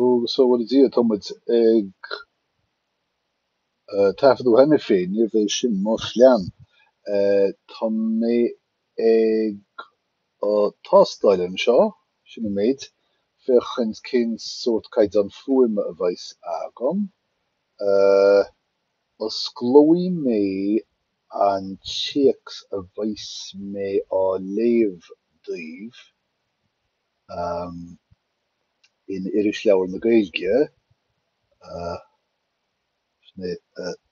Agus a bhuí le Dia tá muid ag taifeadadh cheana féin, níorbh é sin mo phlean. Tá mé ag tástáil anseo, sin an méid, féach cén sórt caighdeán fuaime a bheidh agam. Osclóidh mé an téacs a bheas mé á léamh daoibh in Irisleabhar na Gaeilge, sin é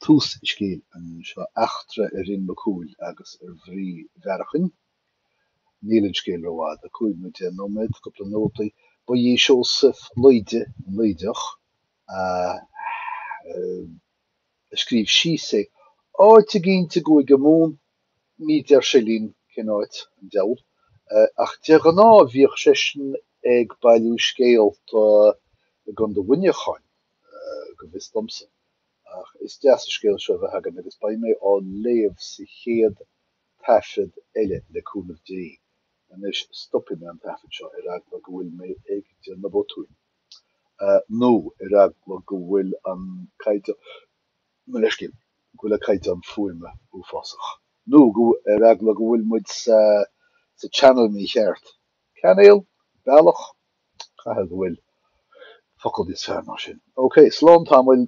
tús an scéil anseo Eachtra ar Fhionn Mac Cumhaill agus ar Mhnaoi Bhearacháin. Níl an scéal rófhada, cúig nóiméad deich nóiméad, cúpla nótaí. Ba é Seosamh Laoide an Laoideach. a scríobh síos é. Áit eicínt i gCúige Mumhan, ní deir sé linn cén áit, an diabhal, ach de ghnáth bhíodh seisean ag bailiú scéalta i gContae Mhuineacháin, go bhfios domsa, ach is deas an scéal seo a bheith againn agus beidh mé á léamh sa chéad taifead eile, le cúnamh Dé. Anois stopfaidh mé an taifead seo, ar eagla go bhfuil mé ag déanamh botúin. nó ar eagla go bhfuil an caighdeán, mo leithscéal, go bhfuil an caighdeán fuaime uafásach, nó ar eagla go bhfuil muid sa channel mícheart, cainéal? bealach? caithfidh go bhfuil focal níos fearr ná sin, ok, slán tamaill.